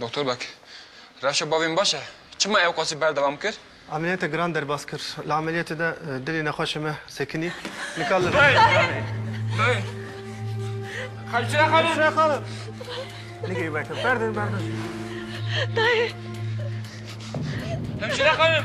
Doktor Beg, rewşa bavê min baş e. Çima ew qasî berdewam kir? Emeliyate giran derbas kir. Li emeliyatê de dilê nexweşê me sekinî. Nika li Dayê! Dayê! Hemşire xanım! Hemşire xanım! Nigê weke, berdin, berdin. Dayê! Hemşire xanım!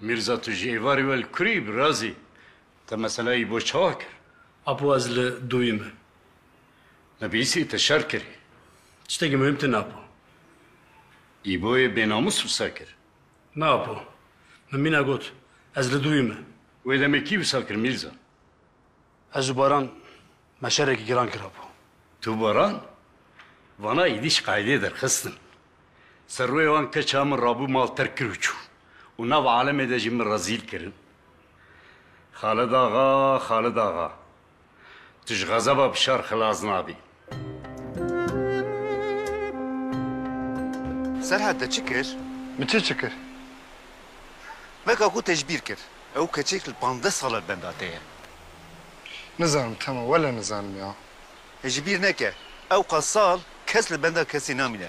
Mîrza tu ji êvarê we li kurê yî birazî? Te mesela yî bo çawa kir? Apo ez li dûyî me. Me bi Îsê te şer kirî. Tiştekî muhîm tune Apo. Îboyê bênamûs wisa kir. Na Apo. Min mîna got. Ez li dûyî me. Wê demê kî wisa kir Mîrza? Ez û Baran me şerekî giran kirabû. Tu û Baran vana êdîş qeydê derxistin. Serwê wan keça min rabû mal terk kir û çû û nav alemê de jî min rezîl kirin. Xalid axa, Xalid axa! Tu ji xezeba Bişar xilas nabî. Serhat te çi kir? Min çi çi kir? Veka ku te ji bîr kir. Ew keçek li pandeh sala li benda te ye. Nizanim Temo, wele nizanim ya. Hê ji bîr neke, ewqas sal kes li benda kesê namîne.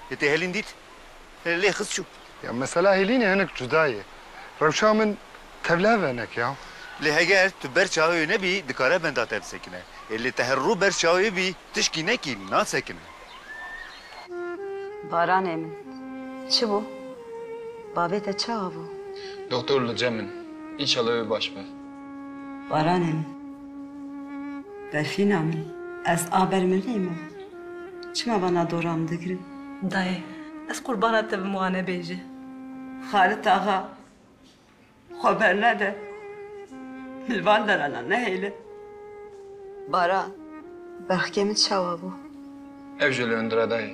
Hê te hêlîn dît? Hê lê xist çû. Ya mesela hêlînê hinek cuda ye. Rewşa min tevlihev venek ya. Lê heger tu berz çawe wê nebî dikare benda te bisekine. Ê lê te her rû berz çawe wê bî tişkî nekî nasekine. Baranê min. Çi bû? Bavê te çawa bû? Doktor li cem in. Înşallah wê baş be. Baranê min. Berfîna min. Ez a ber mirî me. Çima vana dora min digirin? Dayê, ez qurbana te bim wane bêje. Xalit axa, xwe bernede. Li van deranan nehêle. Baran, bexkê min çawa bû? Ev jî li hundir e dayê.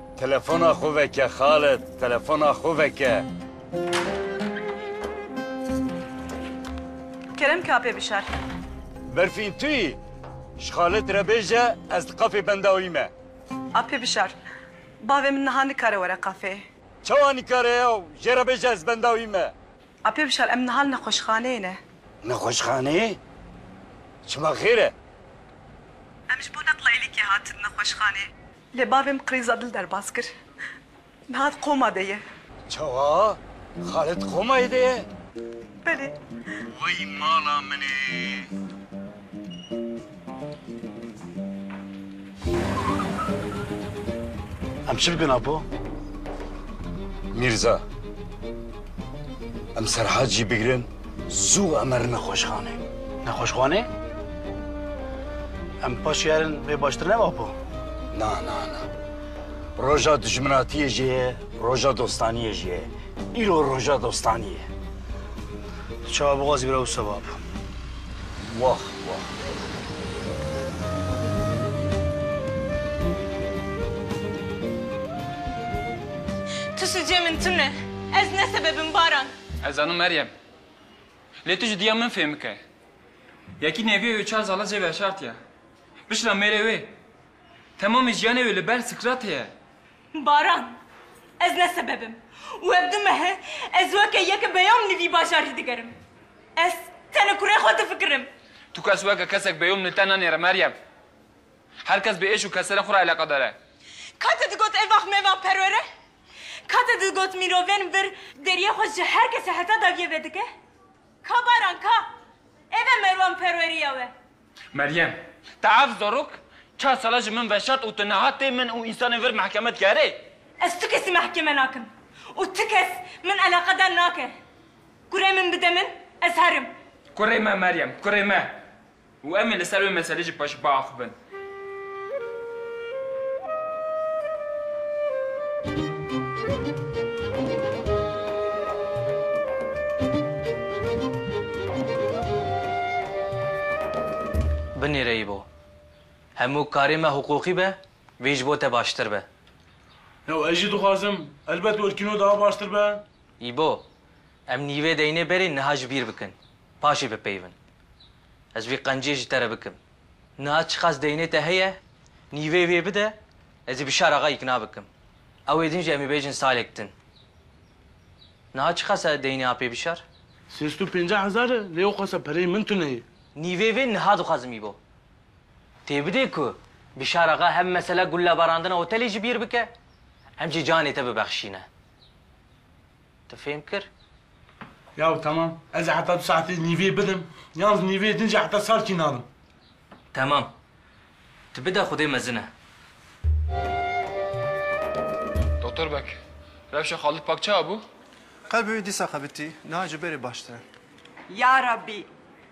Telefona xwe veke xale, telefona xwe veke. Kerem kapê bişar. Berfîn tu yî? Ji xalet re bêje ez di qafê benda wî me. Apê bişar. Bavê min niha nikare were qafê. Çawa nikare ya û jê re bêje ez benda wî me. Apê bişar em niha li nexweşxaneyê ne. Nexweşxaneyê? Çima xêr e? Em ji bo neqla êlîkê hatin nexweşxanê. Lê bavê min qirêza dil derbas kir. Niha di qoma de ye. Çawa? Xalê di qomayê de ye? Belê. Wey mala min ê! Em çi bikin Apo? Mîrza, em Serhad jî bigirin. Zû emer nexweşxanê. Nexweşxanê? Em paşê herin vê baştir ne Apo? Na, na, na. Roja dijminatiyê jê ye, roja dostaniyê jê ye. Îro roja dostanî ye. Tu çawa bixwazî bira wisa be Apo. Wah, wah. Tu sicê min tune. Ez ne sebebim Baran. Ez zanim Meryem. Lê tu ji diya min fêm bike. Yekî nêvî wê çar zala cêve şartiya. Bişla mêrê wê. Temamê jiyanê wê li ber Sikratê ye. Baran, ez ne sebeb im û ev du mehe ez weke yeke beyom li vî bajarî digerim. Ez tenê kurê xwe difikirim. Tu kes weke kesek beyom li te nanêre Meryem. Her kes bi êş û keserên xwe re eleqedar e. Ka te digot evax mevax perwere Ka te digot mîrovên vir deriyê xwe ji her kesê heta dawiyê vedike? Ka baran ka! Ev e Merwan perweriya we. Meryem, te ev zarok çar sala ji min veşart û tu niha tê min û însanên vir mehkeme dikerê? Ez tu kesî mehkeme nakim û tu kes min eleqedar nake. Kurê min bide min, ez herim. Kurê me Meryem, kurê me. Û em ê li ser wê meselê jî paşî biaxivin. Binêreyî bo. Hemû karê me hiqûqî be, vê ji bo te baştir be. Ew ez jî dixwazim. Elbet Orkîno daha baştir be. Îbo, em nîvê deynê berê niha ji bîr bikin. Paşê bipeyivin. Ez vî qencê ji te re bikim. Niha çiqas deynê te heye, nîveyê wê bide, ez ê Bişar axa îkna bikim. Ew ê din jî em ê bêjin salek din. Niha çiqas e deynê apê Bişar? Sêst û pênceh hezar e, lê oqasa pereyê min tune ye. Nîveyê wê niha dixwazim îbo. Tê bidê ku Bişar axa hem mesela gullebarandina otelê ji bîr bike, hem jî canê te bibexşîne. Te fêm kir? Yaw temam. Ez ê heta du saetê nîvê bidim. Yan ji nîvê din jî heta sar kî nadim. Temam. Tu bide xwedê mezin e. Doktor beg, rewşa Xalid Pak çawa bû? Qelbê wî dîsa xebitî, niha ji berê baştir e. Ya Rabbî!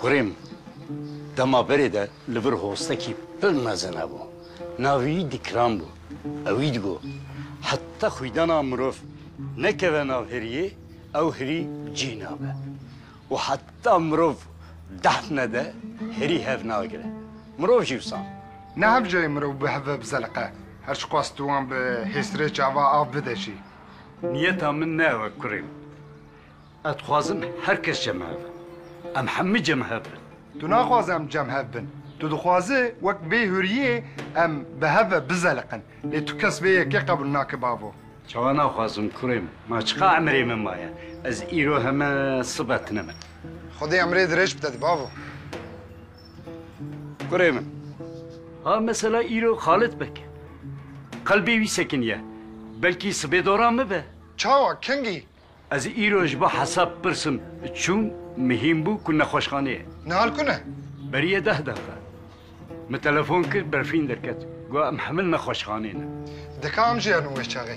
Kurên dema berê de li vir hostekî pir mezin hebû. Navê wî Dîkran bû. Ew wî digo, Heta xwîdana mirov nekeve nav hiriyê, ew hirî cî nabe. Û heta mirov dehf nede, hirî hev nagire. Mirov jî wisa. Ne hev cayê mirov bi hev ve bizeliqe. Her çi qas tu wan bi hêsirê çava av bide jî. Niyeta min ne ew e kurên. Ez dixwazim her kes cemhev bin. Em hemû cemhev bin. Tu naxwaze em cemhev bin. Tu dixwaze wek bê hûriyê em bi hev ve bizeliqin. Lê tu kes vê yekê qebûl nake bavo. Çawa naxwazim kurê min? Ma çiqa emrê min maye? Ez îro heme sibe tune me. Xwedê emrê dirêj bide di bavo. Kurê min. Ha mesela îro Xalid bik. Qelbê wî sekiniye. Belkî sibê dora min be. Çawa kengî? Ez îro ji bo hesab pirsim çûm, mihîm bû ku nexweşxaneyê. Nihal ku ne? Beriye deh deqiqe. Min telefon kir berfîn derket. Got em hemû nexweşxaneyê ne. Dika em jê herin wê çaxê.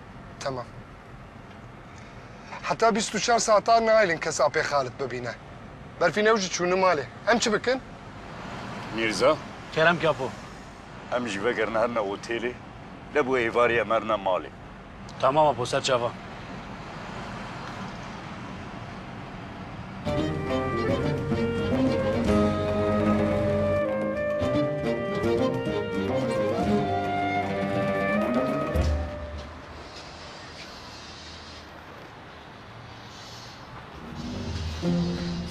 Temam. Heta bîst û çar saetan naelin kes apê Xalit bibîne. Berfîn ew jî çûne malê. Em çi bikin? Mîrza. Kerem Kapo. Em jî vegerin herine otêlê. Lê bi êvarî em herine malê. Temam Apo, ser çavan.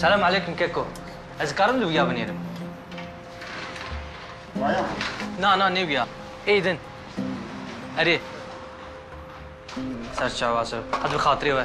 Selam aleyküm Keko. Ez dikarim li wîya binêrim. Waya. Na na ne wîya. Ê din. Erê. Serçe wase. Hadi bi xatirê we.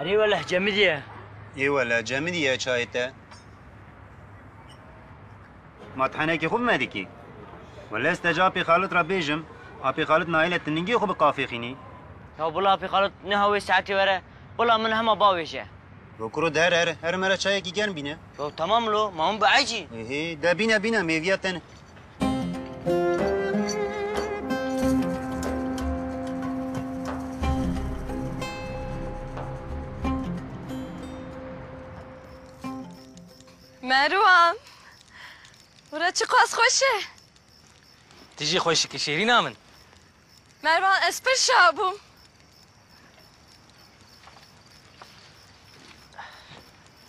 Erê weleh cemî diye. Ê weleh cemî diye çayê te. Ma ti henekê xwe bime dikî. Weleh ez te ji Apê Xalit re bêjim, Apê Xalit nayle ti ningê xwe bi qafêxînî. Ya bila Apê Xalit niha wê saetê were, bila min hema bavêje. Yo kuro di here here, here me re çayekî germ bîne. Yo temam lo, ma hûn biecî. Ê hê, de bîne bîne mêvîya te ne. Merwan. Bura çiqas xweş e. Tu jî xweşikî şêrîna min. Mervan ez pir şa bûm.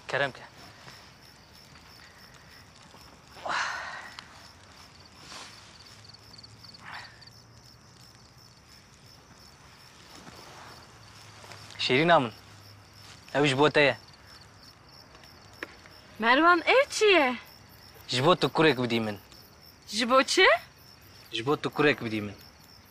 Kerem ke. Şîrîna min. Ew ji bo te ye. Merwan ev çi ye? Ji bo tu kurek bidî min. Ji bo çi? Ji bo tu kurek bidî min.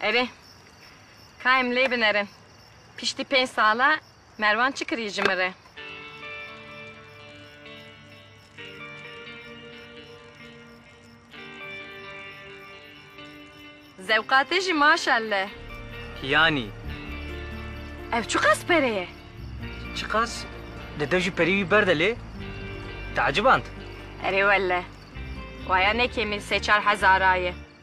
Erê, ka em lê binerin, piştî pênc sala Merwan çi kirî ji min re? Zewqa te jî maşelle. Yanî. Ev çiqas pere ye? Çiqas? Dede jî perî wî berde lê teeciband. Erê welle, waya ne kêmî sê çar hezara ye.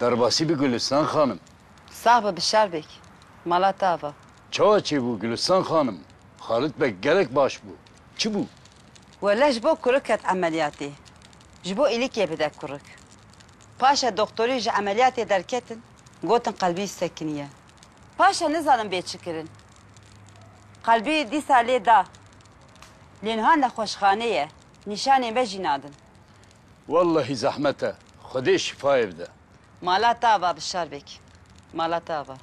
Derbasî bi Gulistan xanim. Sax bi bi şer bêk. Mala te ava. Çawa çêbû Gulistan xanim? Xalit beg gelek baş bû. Çi bû? Wele ji bo kurik ket emeliyatê. Ji bo îlikê bide kurik. Paşe doxtorî ji emeliyatê derketin gotin qelbî sekiniye. Paşe nizanim bê çi kirin. Qelbî dîsa lê da. Lê niha nexweşxanê ye. Nîşanê me jî nadin. Wellehî zehmet e. Xwedê şifayê bide. Mala te ava bi şerbek. Mala te ava.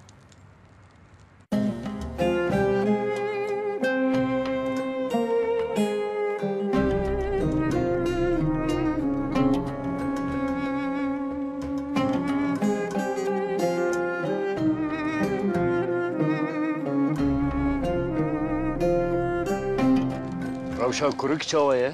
Rewşa kurik çawa ye?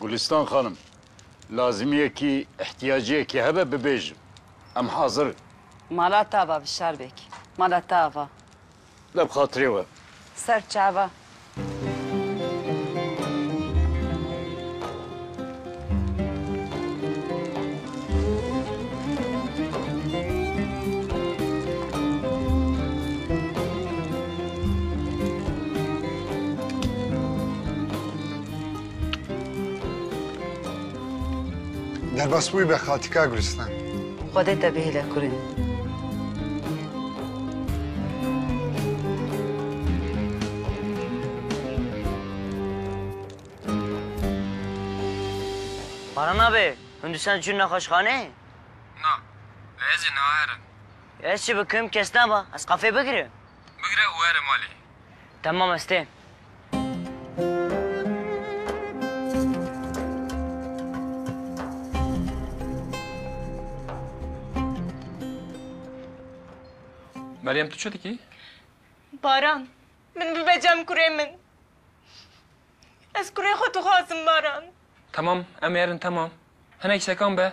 Gulîstan xanim, lazimiyekî, îhtiyaciyekî hebe bibêjin. Em hazir in. Mala te ava Bişar beg. Mala te ava. Be bi xatirê we. Ser çava. Derbas bûyî be xaltîka Gulîstan. Xwedê te bihêle kurîn. Baran abi, hûn dîsan çûn nexweşxaneyê? Na, lê ez ê neaherim. Ez çi bikim kes neba, ez qafê bigirim. Bigire û here malê. Temam ez tê. Meryem tu çi dikî? Baran, min bibe cem kurê min. Ez kurê xwe dixwazim Baran. Temam, em ê erin temam. Hinek sekan be.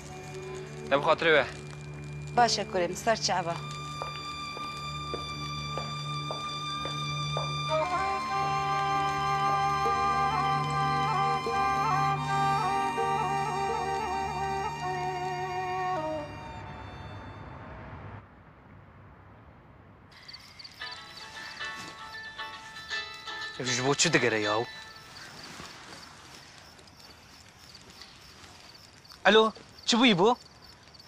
Ne bi xatirê we. Baş e kurê min ser çi'e ba. Ev ji bo çi digere yaw? Elo, çi bûyî bo?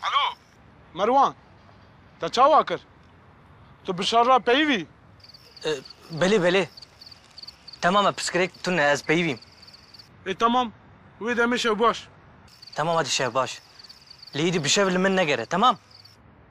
Elo! Merwan, te çawa kir? Tu bi şer re peyivî? Belê, belê. Temam e, pirsgirêk tune e, ez peyivîm. Ê temam, wê demê şev baş. Temam hadi şev baş. Lê îdî bi şev li min negere, temam?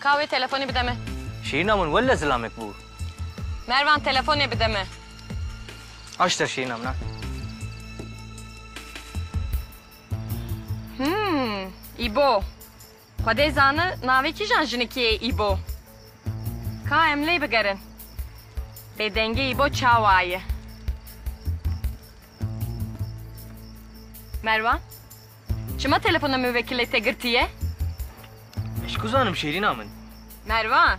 Ka wê telefonê bide min. Şîrîna min welle zilamek bû. Mervan telefonê bide min. Aşter şîrîna min a. Hûm, Îbo. Xwe dê zani navê kîjan jinikê ye Îbo. Ka em lê bigerin. Bêdengê Îbo çawa ye. Mervan. Çima telefona muvekilê te girtî ye? Ji ku zanim Şêrîna min. Mervan.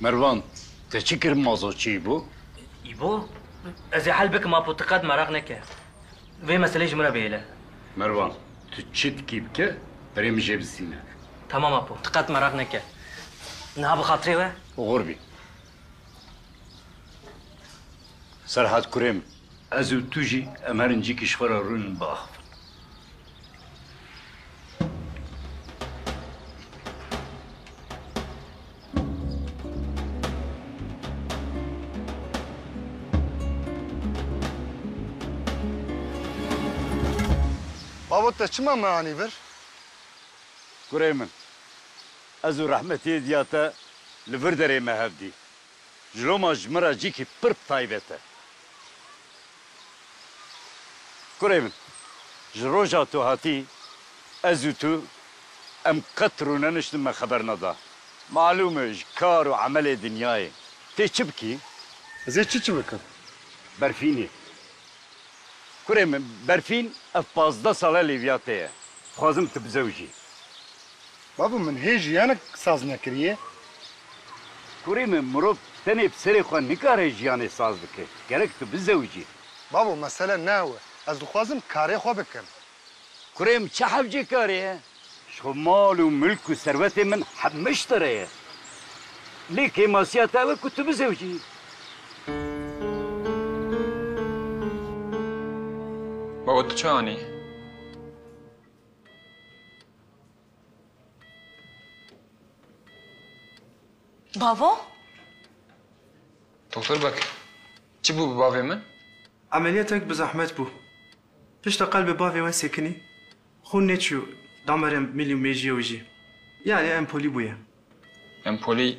Mervan, te çi kir mazo çi îbo? Îbo? Ez ê hel bikim apo tu qet meraq neke. Vê meseleyê ji min re bihêle. Mervan, tu çi dikî bike, berê min jê bistîne. Tamam apo, tu qet meraq neke. Niha bi xatirê we? Qur bî. Serhat kurê min. Ez û tu jî em herin cîkî ji xwe re rûnin biaxivin. Babo te çima me anî vir? Kurê min, ez û Rehmetiyê diya te li vir derê me hev dî. Ciloma ji min re cîkî pir taybet e. Kurê min, ji roja tu hatî ez û tu em qet rûne niştin me xeber neda. Malûm e ji kar û emelê dinyayê tê çi bikî? Ez ê çi çi bikim? Berfînê. Kurê min, Berfîn ev pazdeh sal e Lîvya tê ye. Dixwazim tu bizewjî. Babo min hê jiyanek saz nekiriye. Kurê min mirov tenê bi serê xwe nikare jiyanê saz bike. Gerek tu bizewicî. Babo mesele ne ew e. Ez dixwazim karê xwe bikim. Kurê min çi hevcê karê ye? Ji xwe mal û milk û serwetê min heme ji te re ye. Lê kêmasiya te ew e ku tu bizewicî. Babo tu çi anî? Bavo? Doktor Bekir, çi bû bi bavê min? Emeliyatek bi zehmet bû. Pişta qelbê bavê we sekinî, xûn nêçû damerên milî û mêjiyê wî jî. Yanî empolî bûye. Empolî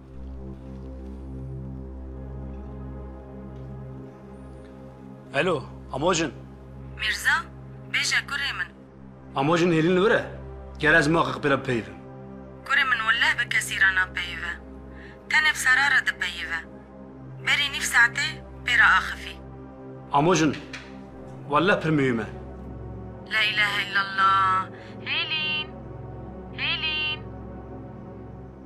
Elo, Amojin. Mirza, bêje kurê min. Amojin hêlin li wir e? Ger ez maqiq pira bipeyivim. Kurê min welleh bi kesî re napeyive. Tenê bi Sara re dipeyive. Berî nîv saetê pê re axifî. Amojin, welleh pir miyûm e. La îlahe îllallah. Hêlin! Hêlin!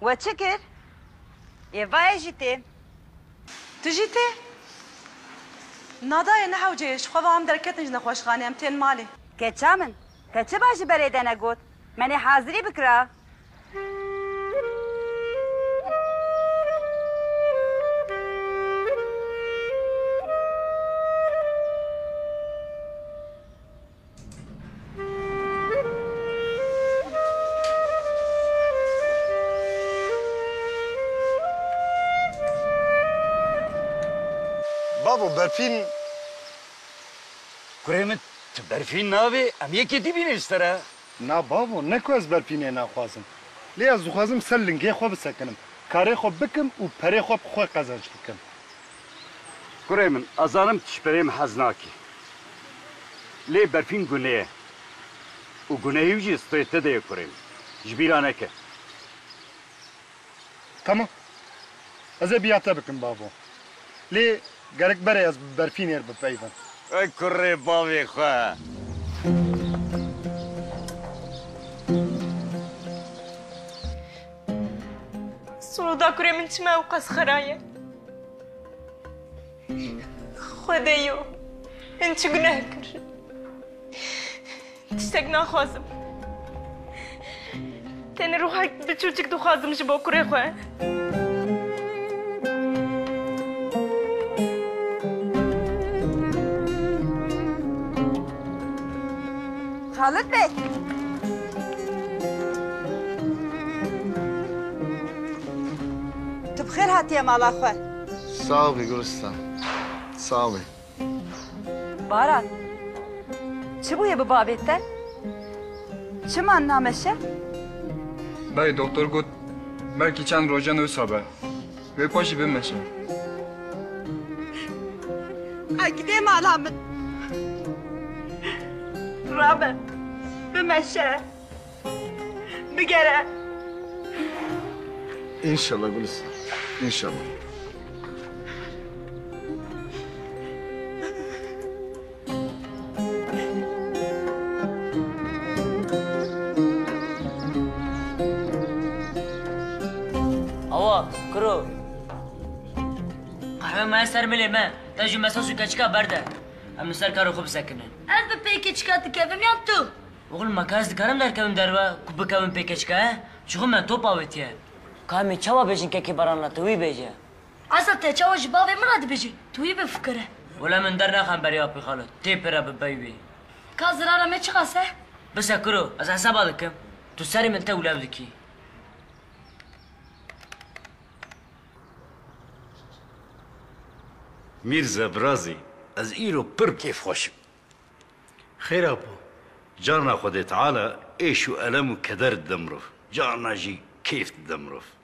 We çi kir? Yê va ez jî tê. Tu jî tê? Na dayê ne hewce ye, ji xwe ve em derketin ji nexweşxanê, em tên malê. Keça min, te çi ba ji berê de negot, menê hazirî bikira. Babo berfîn Kurê min tu berfîn navê em yekê dî bînin ji te re. Na babo ne ku ez berfînê naxwazim. Lê ez dixwazim ser lingê xwe bisekinim, karê xwe bikim û perê xwe bi xwe qezenc bikim. Kurê min, ez zanim tu ji pereyê min hez nakî. Lê berfîn gunê ye û gunehî wî jî strê te de ye kurê min. Ji bîr a neke. Temam. Ez ê biya te bikim bavo. Lê gerek berê ez bi berfînê re bipeyivim. Ey kurê bavê xwe. Suuda kurê min çima ewqas xera ye? Xwedeyo, min çi guneh kir? Tiştek naxwazim. Tenê ruhek biçûçik dixwazim ji bo kurê xwe. Xalid beg! Tu bi xêr hatiye mala xwe. Sağ bi Gulistan. Sağ bi. Baran! Çi bûye bi bavê te? Çima name şe? Beg doktor got belkî çend rojan wisa be. Wê xwe jî bimeşe. Agidê mala min. Rabe, bimeşe. Bigere. Înşallah Gulistane, înşallah. Awa, kuro. Qehwe me ser milê me. Te ji mesa sû keçika berde. Em li ser karo xwe bisekinin. Ez bi pê keçika dikevim yan tu? Oxlum me ka ez dikarim derkevim derve ku bikevim pê keçika he? Ji xwe me top avêtiye. Ka em ê çawa bêjin kekê baranla te wî bêje. Esa te çawa ji bavê min re dibêjî? Tu wî bifikire. Wele min dernexe berê apê xalo. Tê pire bibey wê. Ka zirara me çiqas e? Bise kuro, ez hesaba dikim. Tu serê min tewlev dikî. Mîrze, Virazî, ez îro pir kêfxweş im. Xêra bo. Carna Xwedê Teala êş û elem û keder dide mirov, carna jî kêf dide mirov.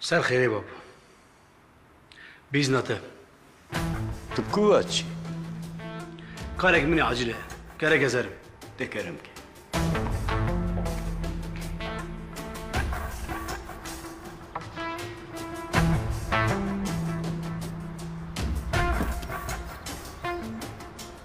Ser xêrê bab. Bîzna te. Tu ku ve çi? Karek min e acil e. Kerek ez herim. Tê kerem ke.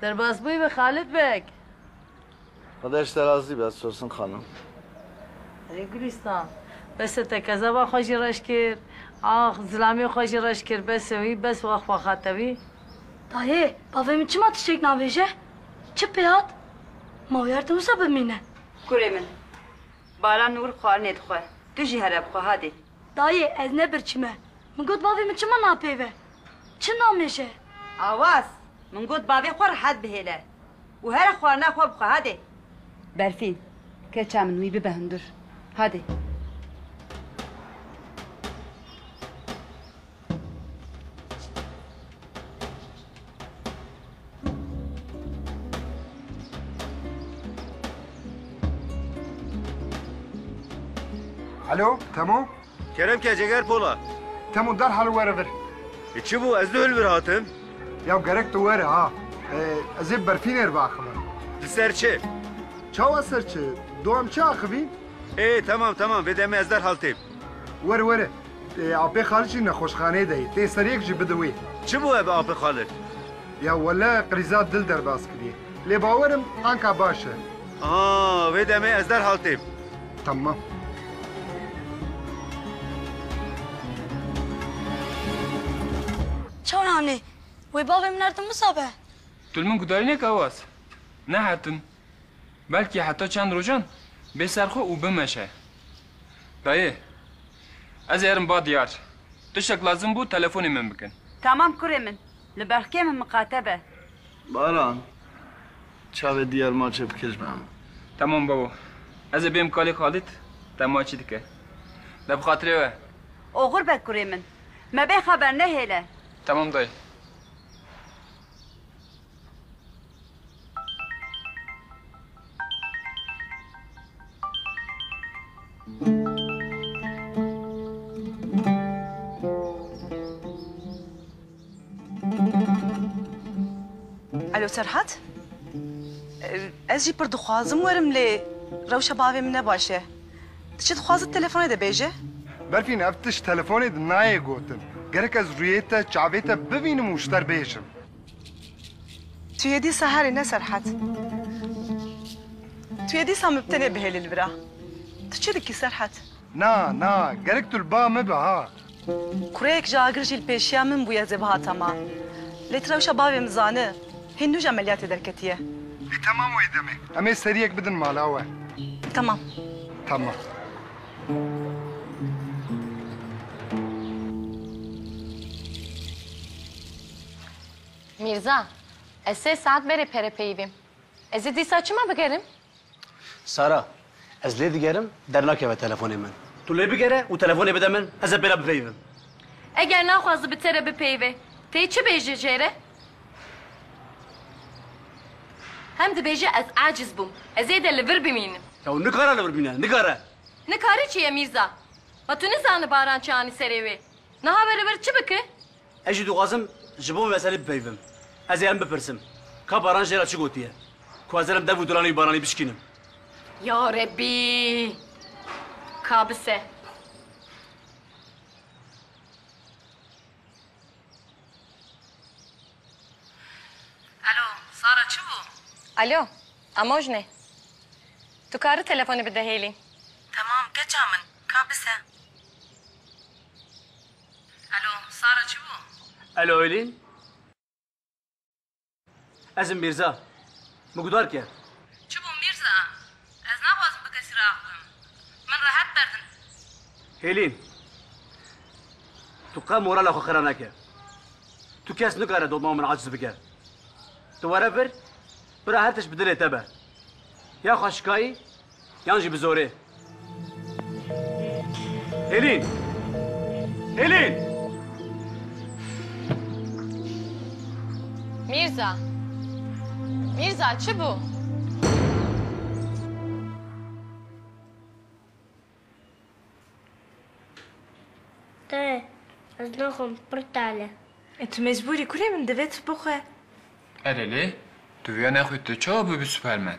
Derbas bûyî bi Xalid Beg. Xuda ji te razî be Sosin xanim. Erê Gulîstan. Bes e te kezeba xwe jî reş kir. Ax zilamê xwe jî reş kir bes e wî bes wext wexate wî. Dayê bavê min çima tiştek nabêje? Çi pê hat? Ma wî her tim wisa bimîne. Kurê min. Baran nur xwarinê dixwe. Tu jî here bixwe hadê. Dayê ez ne birçî me. Min got bavê min çima napeyve? Çi namêj e? Awaz, Min got bavê xwe rehet bihêle û here xwarina xwe bixwe hadê. Berfîn, Keça min wî bibe hundur. Hadê. Alo, Temo? Kerem ke ceger pola. Temo derhal were vir. E çi bû ez dihil vir hatim? Ya gerek tu were ha. E, ez ê berfînê re biaxivim. Di ser çi? Çawa ser çi? Dom çi axivîn? Ê tamam tamam vê demê ez derhal têm. Were were, Apê Xalid jî nexweşxaneyê de ye, tê seriyek jî bide wê. Çi bû ev Apê Xalid? Ya wele qrîza dil derbas kiriye. Lê bawer im anka baş e. Aha, vê demê ez derhal têm. Temam. Çawa yanî? Wê bavê min erdin wisa be? Tu li min gutarînek Awaz? Nehetin. Belkî heta çend rojan bê ser xwe û bimeşe. Dayê, Ez ê erim ba diyar. Tiştek lazim bû telefonê min bikin. Tamam kurê min. Li belkê min miqate be. Baran, Çavê diyar maçê bike ji ber min. Tamam babo. Ez ê bêm kalê Xalîd te maçî dike. De bi xatirê we. Oxir be kurê min. Me bê xeber nehêle. Tamam dayê. Alo Serhat. Ez jî pir dixwazim werim lê rewşa bavê min ne baş e. Ti çi dixwazit telefonê de bêje. Berfîn ev tişt telefonê de nayê gotin. Gerek ez rûyê te çavê te bibînim û ji te re bêjim. Tu yê dîsa herî ne Serhat. Tu yê dîsa min bi te nebihêlî li vir a. Tu çi dikî Serhat? Na, na, gerek tu li ba min be ha. Kureyek ji agir jî li pêşiya min bûye zêbihata ma. Lê tu rewşa bavê min zani. Hîn nû ji emeliyatê derketiye. Lê temam wê demê. Em ê seriyek bidin mala we. Temam. Temam. Mîrza, ez sê saet berê pere peyivîm. Ez ê dîsa çima bigerim? Sara, ez lê digerim, dernakeve telefonê min. Tu lê bigere û telefonê bide min, ez ê pê re bipeyivim. Eger naxwaze bi te re bipeyive, tê çi bêje jê re? Hem dibêje ez aciz bûm, ez ê de li vir bimînim. Ew nikare li vir bimîne, nikare. Nikare çi ye Mîrza? Ma tu nizani Baran çi anî serê wê? Niha were vir çi bike? Ez jî dixwazim ji bo meselê bipeyivim. Ez ê em bipirsim, Ka Baran jê re çi gotiye? Ku ez ê rem dev û duranê wî Baranî bişkînim. Ya Rebî! Ka bise. Elo, Sara çi bû? Elo, Amoj ne. Tu kari telefonê bide hêlî? Temam, keça min. Ka bise. Elo, Sara çi bû? Elo Aylin? Ez im Mîrza. Min gudar kerd. Çi bû Mîrza? Ez naxwazim bi kesî re axivim. Min rehet berdin. Aylin, tu qet morala xwe xira neke. Tu kes nikare doma min aciz bike. Tu were vir, bira her tişt bi dilê te be. Ya xwe şikayî, Yan jî bi zorê. Hêlîn! Hêlîn! Mîrza! Mîrza, çi bû? Dayê, ez naxwim pirtal e. E tu mecbûr î kurê min divê tu bixwe. Erê lê, tu vêya nexwî tu çawa bûbî superman?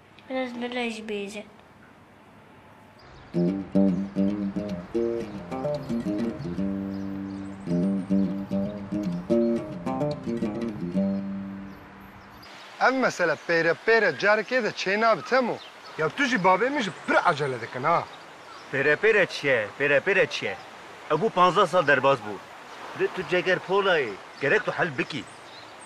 Rêz li rê jî bêje. Ev mesele pêre pêre carekê de çê nabe Temo. Ya tu jî bavê min jî pir ecele dikin ha. Pêre pêre çi ye, pêre pêre çi ye? Ew bû panzdeh sal derbas bû. Lê tu ceger pola yî, gerek tu hel bikî.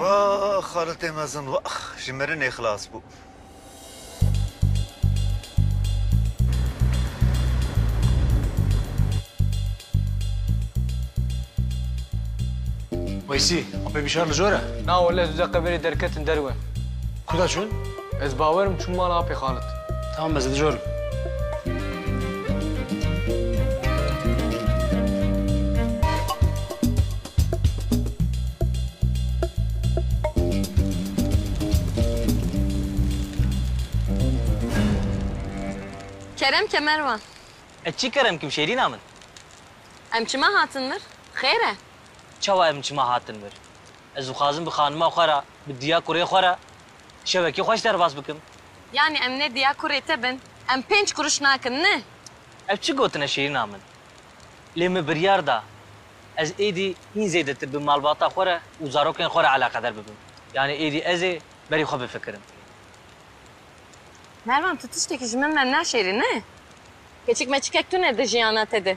Waax xaritê mezin waax ji mirinê xilas bû. Weysî, apê bîşar li jor e? Na wele, dû deqe berê derketin derwe. Kuda çûn? Ez bawer im çûm mala apê xalit. Tamam ez dijorim. Kerem ke Merwan. Ez çî kerem kim Şêrîna min. Em çima hatin vir? Xêr e? Çawa em çima hatin vir? Ez dixwazim bi xanima xwe re, bi diya kurê xwe re. Şevekê xweş derbas bikim. Yanî em nê diya kurê te bin? Em pênc kuruş nakin ne? Ev çi gotin e Şêrîna min? Lê min biryar da ez êdî hîn zêdetir bi malbata xwe re û zarokên xwe re eleqeder bibim. Yanî êdî ez ê berî xwe bifikirim. Mervan tu tiştekî ji min me naşêrî ne? Keçik meçikek tune di jiyana te de.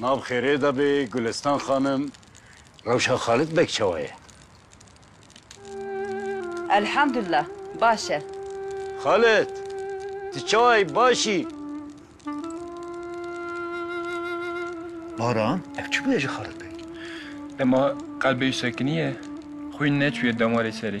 Nav xêrê de bê Gulestan xanim. Rewşa Xalit Beg çawa ye? Elhamdullah baş e. Xalit! Tu çawa yî baş î? Baran, ev çi bûye ji Xalit Beg? Dema qelbê wî sekiniye, xwîn neçûye damarê serê.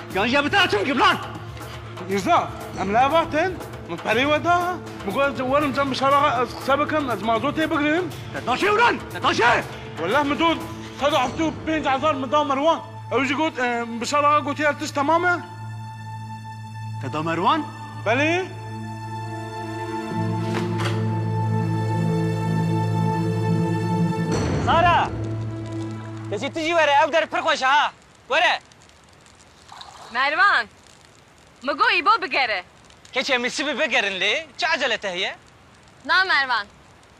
Gajiya bi te re çi bike Blan? Mîrza, em li hev axtin, min perê we da. Min got ez werim cem bi şeva re ez qise bikim, ez mazotê bigirim. Te da çi Blan? Te da çi? Welleh min dot sed û heftê û pênc hezar min da Merwan. Ew jî got min bi şeva re gotiye her tişt temam e. Te da Merwan? Belê. Sara! Kecî tu jî were, ev der pir xweş e ha. Were! Mervan, Min got îbo bigere. Keçê min sibê bigerin lê çi ecele te heye? Na Mervan,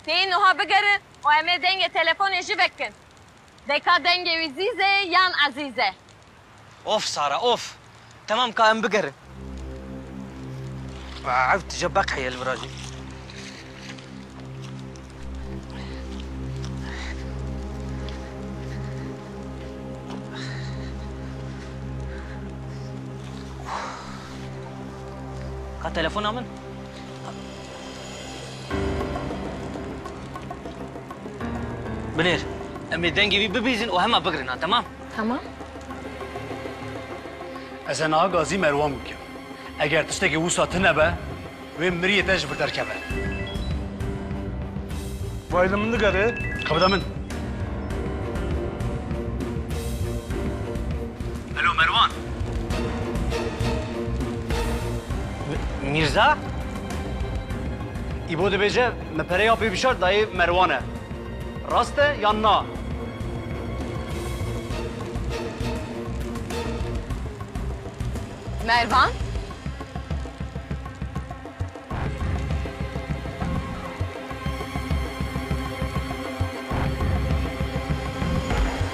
têyî nuha bigerin û em ê dengê telefonê jî vekin. Deka dengê wî zîz e yan ezîz e. Of Sara of. Temam ka em bigerin. Ev tije beq heye li vir a jî. Ka telefona min? Binêr. Em ê dengê wî bibîzin û hema bigrin ha, temam? Tamam. Ez e niha gazî Merwan bikim. Eger tiştekî wisa tune be, wê miriyê te ji vir derkeve. Vay li min digere. Xwe bide min. Helo Merwan. Mîrza? Îbo dibêje min pereya pê bişart dayê Merwan e. Rast e yan na? Mervan?